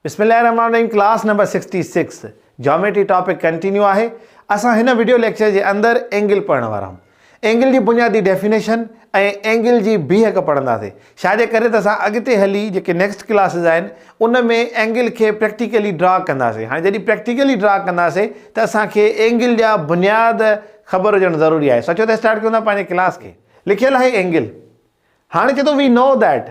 بسم الله الرحمن الرحيم class number sixty six geometry topic continue آهي اسان هن وڊيو ليڪچر جي اندر اينگل پڙهڻ وارا آهيون اينگل جي بنيادي ڊيفينيشن ۽ اينگل جي بيهڪ پڙهنداسي شايد ڪري ته اسان اڳتي هلي جيڪي نيڪسٽ ڪلاسز آهن ان ۾ اينگل کي پريڪٽيڪلي ڊرا ڪنداسي هاڻي جڏهن پريڪٽيڪلي ڊرا ڪنداسي ته اسان کي اينگل جا بنياد خبر هجڻ ضروري آهي سچو ته اسٽارٽ ڪيون ٿا پنهنجي ڪلاس کي لکيل آهي اينگل هاڻ چئي ٿو we know that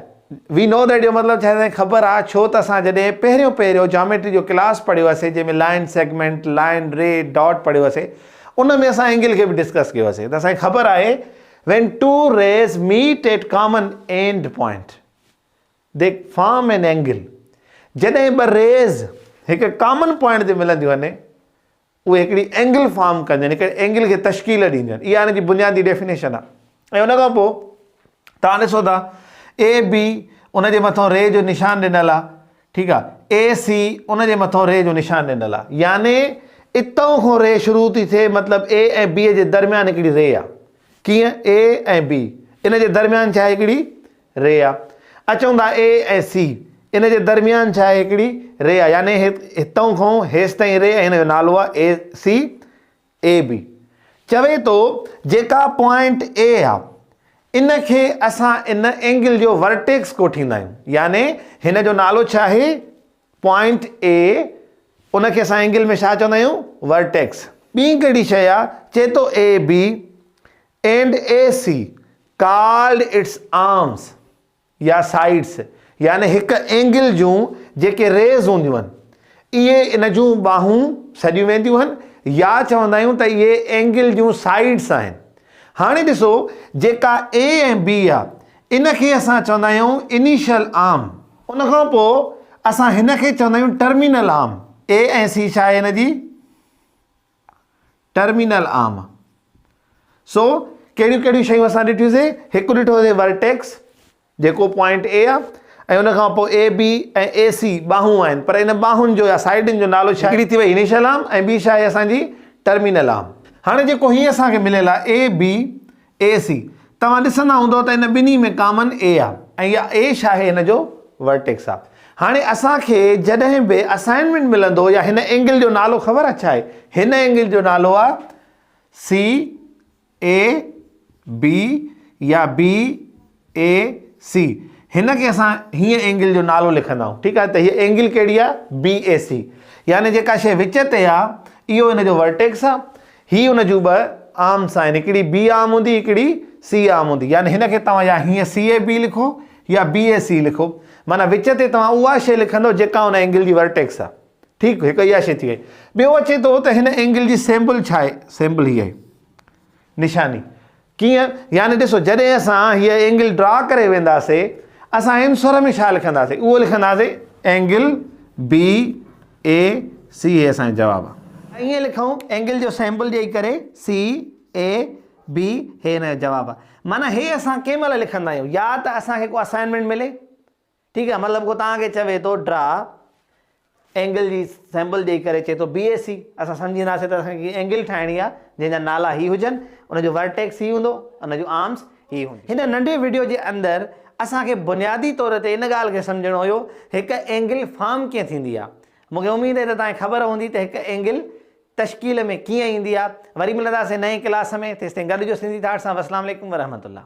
we know that جو مطلب ڇا سائين خبر آ ڇو ته اسان جڏهن پهريون پهريون جاميٽري جو ڪلاس پڙهيو هئاسين جنهن ۾ line segment line ray dot پڙهيو هئاسين ان ۾ اسان اينگل کي به ڊسڪس ڪيو هئاسين ته سائين خبر آهي when two rays meet at common end point they form an angle جڏهن ٻه ريز هڪ ڪامن پوائنٽ تي ملنديون آهن اهي هڪڙي اينگل فارم ڪنديون آهن، هڪڙي اينگل کي تشڪيل ڏينديون آهن، اها ان جي بنيادي ڊيفينيشن آهي ۽ ان کان پوء توهان ڏسو ٿا اي بي ان جي مٿان ري جو نشان ڏنل آهي ٺيڪ آهي اي سي ان جي مٿان ري جو نشان ڏنل آهي يعني اتان کان ري شروع ٿي ٿئي مطلب اي ۽ بي جي درميان هڪڙي ري آهي ڪيئن اي ۽ بي ان جي درميان ڇا هڪڙي ري آ اچ چون ٿا اي ۽ سي ان جي درميان ڇا آهي هڪڙي ري آ يعني هتئون کون هيستائين ري ۽ هن جو نالو آ اي سي اي بي چوي ٿو جيڪا پوائنٽ اي آ ان کي اسان ان اينگل جو ورٽيڪس ڪوٺيندا آهيون يعني هن جو نالو ڇا آهي پوائنٽ اي، ان کي اسان اينگل ۾ ڇا چوندا آهيون؟ ورٽيڪس. ٻي ڪهڙي شيء آ؟ چئي ٿو A B and A C called its arms يا سائيڊس يعني هڪ اينگل جون جيڪي ريز هونديون هن اهي ان جون ٻانهون سڏيون وينديون هن يا چوندا آهيون ته اهي اينگل جون سائيڊس آهن. هاڻي ڏسو جيڪا اي ۽ بي آ ان کي اسان چوندا آهيون انيشل آرم. ان کان پوء اسان هن کي چوندا آهيون ٽرمينل آرم، اي ۽ سي ڇا آهي هن جي ٽرمينل آرم. سو ڪهڙيون ڪهڙيون شيون اسان ڏٺيون سي هڪ ڏٺو سي ورٽيڪس جيڪو پوائنٽ اي آهي ۽ ان کان پوء اي بي ۽ اي سي ٻاهون آهن پر ان ٻاهن جو يا سائيڊن جو نالو ڇا هڪڙي ٿي وئي انيشل آرم ۽ ٻي ڇا آهي اسان جي ٽرمينل آرم. هاڻي جيڪو هي اسان کي مليل آهي اي بي اي سي، توهان ڏسندا هوندؤ ته ان ٻنهي ۾ ڪامن اي آ ۽ يا اي شاهي هن جو ورٽيڪس آ. هاڻي اسان کي جڏهن به اسائنمينٽ ملندو يا هن اينگل جو نالو خبر آ ڇا آهي؟ هن اينگل جو نالو آ سي اي بي يا بي اي سي هن کي اسان هيئن اينگل جو نالو لکندا آهيون ٺيڪ آهي ته هي اينگل ڪهڙي آهي بي اي سي يعني جيڪا شيء وچ تي آهي اهو هن جو ورٽيڪس آهي هي هن جون ٻه آرمس آهن هڪڙي بي آرم هوندي هڪڙي سي آرم هوندي يعني هن کي توهان يا هيئن سي اي بي لکو يا بي اي سي لکو معنيٰ وچ تي توهان اها شيء لکندو جيڪا هن اينگل جي ورٽيڪس آهي ٺيڪ هڪ اها شيء ٿي وئي ٻيو اچي ٿو ته هن اينگل جي سيمبل ڇا آهي سيمبل هي آهي نشاني ڪيئن؟ يعني ڏسو جڏهن اسان هيء اينگل ڊرا ڪري وينداسي اسان ان سر ۾ ڇا لکنداسي اهو لکنداسي اينگل بي اي سي هي اسان جو جواب آ. ائين لکون اينگل جو سيمبل ڏيئي ڪري سي اي بي هي هن جو جواب آ. معنيٰ هي اسان ڪنهن مهل لکندا آهيون يا ته اسان کي ڪو اسائنمينٽ ملي ٺيڪ آهي مطلب ڪو توهان کي چوي ٿو ڊرا اينگل جي سيمبل ڏيئي ڪري چئي ٿو بي اي سي اسان سمجهنداسين ته اسان کي اينگل ٺاهڻي آهي جنهن جا نالا هي هجن ان جو ورٽيڪس هي هوندو ان جون آرمز هي هونديون هن ننڍي وڊيو جي اندر اسان کي بنيادي طور تي ان ڳالهه کي سمجهڻو هيو هڪ اينگل فارم ڪيئن ٿيندي آهي مون کي اميد آهي ته توهان کي خبر هوندي ته هڪ اينگل تشڪيل ۾ ڪيئن ايندي آهي وري ملنداسين نئين ڪلاس ۾ تيستائين گڏ هجو سنڌي ٿاٽس سان وسلام عليڪم ورحمة الله.